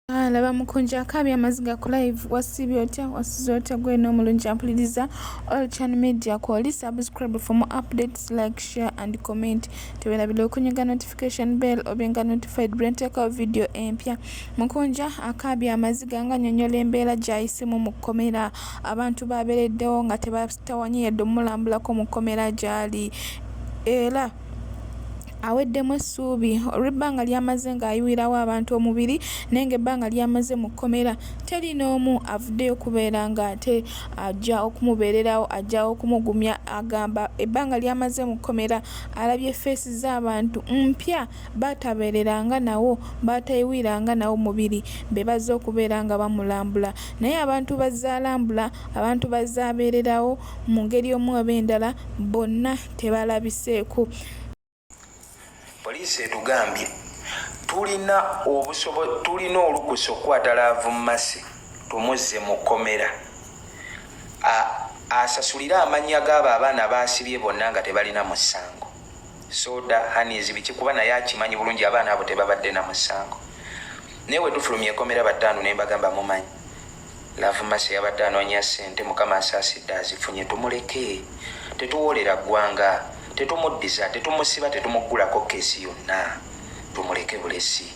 Ah, laba mukunja akabi amaziga ku live wasibye otya wasize otya gwe n'omulungi ampuliriza all chan media kwoli subscribe for more updates like share and comment tewerabira okunyiga notification bell obenga notified brenteekawo video empya mukunja akabi amaziga nga nyonyola embeera gyayisemu mu kkomera abantu babeereddewo nga tebasitawanye yadde omulambulako mu kkomera gyali era aweddemu essuubi olw'ebbanga ly'amaze ng'ayuwirawo abantu omubiri naye ng'ebbanga ly'amaze mu kkomera teri n'omu avuddeyo kubeera ng'ate ajja okumubeererawo ajja okumugumya agamba ebbanga ly'amaze mu kkomera alabye feesi z'abantu mpya baatabeereranga nawo baatayiwiranga nawo mubiri be bazze okubeera nga bamulambula naye abantu bazzaalambula abantu bazzaabeererawo mu ngeri omu oba endala bonna tebalabiseeko. Poliisi etugambye tulina tulina olukusa okukwata Laavu Mercy tumuzze mu kkomera asasulire amannya g'abo abaana baasibye bonna nga tebalina musango soda hanis biki kuba naye akimanyi bulungi abaana abo tebabadde na musango naye wetufulumya ekomera bataano ne mbagamba mumanyi Love mercy yabadde anoonya ssente mukama asaasidde azifunye tumuleke tetuwoolera ggwanga tetumuddiza tetumusiba tetumuggulako keesi yonna tumuleke bulesi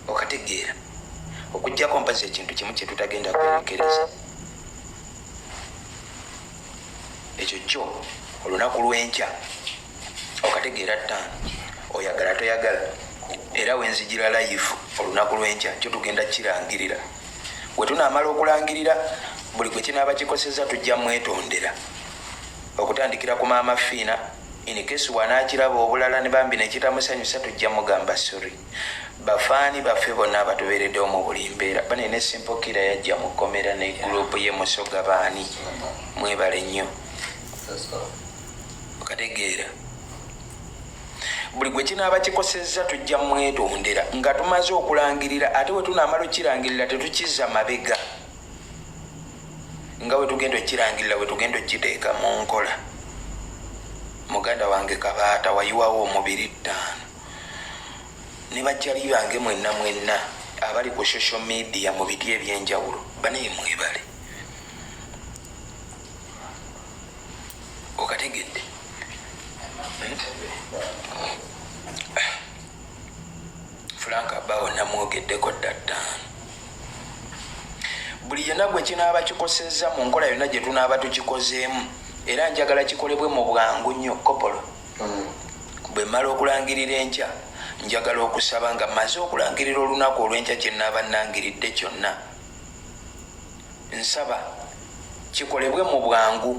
okategeera okujjako mpazi ekintu kimu kyetutagenda kwerekereza ekyo kyo olunaku lwenkya okategeera ttaano oyagala toyagala era wenzijira layivu olunaku lwenkya kyo tugenda kirangirira bwe tunaamala okulangirira buli gwe kinaaba kikoseza tujja mwetondera okutandikira ku maama fiina inikesi wanaakiraba obulala ne bambi nekitamusanyusa tujja mugamba sori bafaani baffe bonna abatubeereddewo mu buli mbeera bane ne simple kira yajja mu kkomera ne gurupu ye musoga baani mwebale nnyo okategeera buli gwe kinaaba kikosezza tujja mwetondera nga tumaze okulangirira ate we tunaamala okukirangirira tetukiza mabega nga we tugenda okukirangirira we tugenda okukiteeka mu nkola muganda wange kabaata wayiwawo omubiri ttaano ne bajjali bange mwenna mwenna abali ku social media mu biti ebyenjawulo banaye mwebale okategedde hmm? frank abawo namwogeddeko dda ttaano buli yena gwe kinaaba kikosezza mu nkola yonna gye tunaaba tukikozeemu era njagala kikolebwe mu bwangu nnyo kopolo Bwe mmala okulangirira enkya, njagala okusaba nga mmaze okulangirira olunaku olw'enkya kye nnaaba nnangiridde kyonna. Nsaba kikolebwe mu bwangu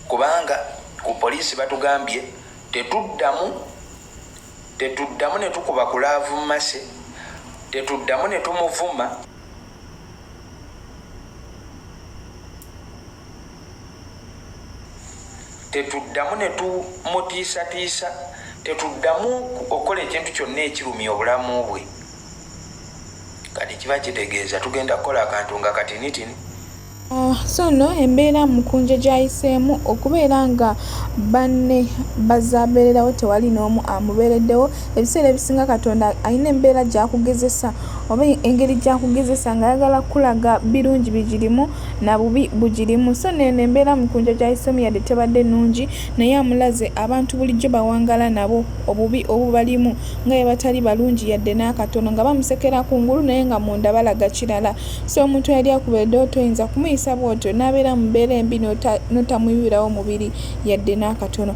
kubanga ku poliisi batugambye tetuddamu tetuddamu ne tukuba kulaavu mmase tetuddamu ne tumuvuma. tetuddamu ne tumutiisatiisa tetuddamu okukola ekintu kyonna ekirumya obulamu bwe kati kiba kitegeeza tugenda kukola akantu nga katinitini ah, so no embeera mukunja gyayiseemu okubeera nga banne bazabeererawo tewali n'omu amubeereddewo ebiseera ebisinga katonda alina embeera gyakugezesa oba engeri gyakugezesa ngaayagala kukulaga birungi bigirimu na bubi bugirimu so neno embeera mukunja gyayisemu yadde tebadde nungi naye amulaze abantu bulijjo bawangala nabo obubi obubalimu nga yebatali balungi yadde n'akatono nga bamusekera ku ngulu naye nga munda balaga kirala so omuntu yali akuba edooto oyinza kumuyisa bwotyo n'abeera mubeera embi notamuyiwirawo mubiri yadde n'akatono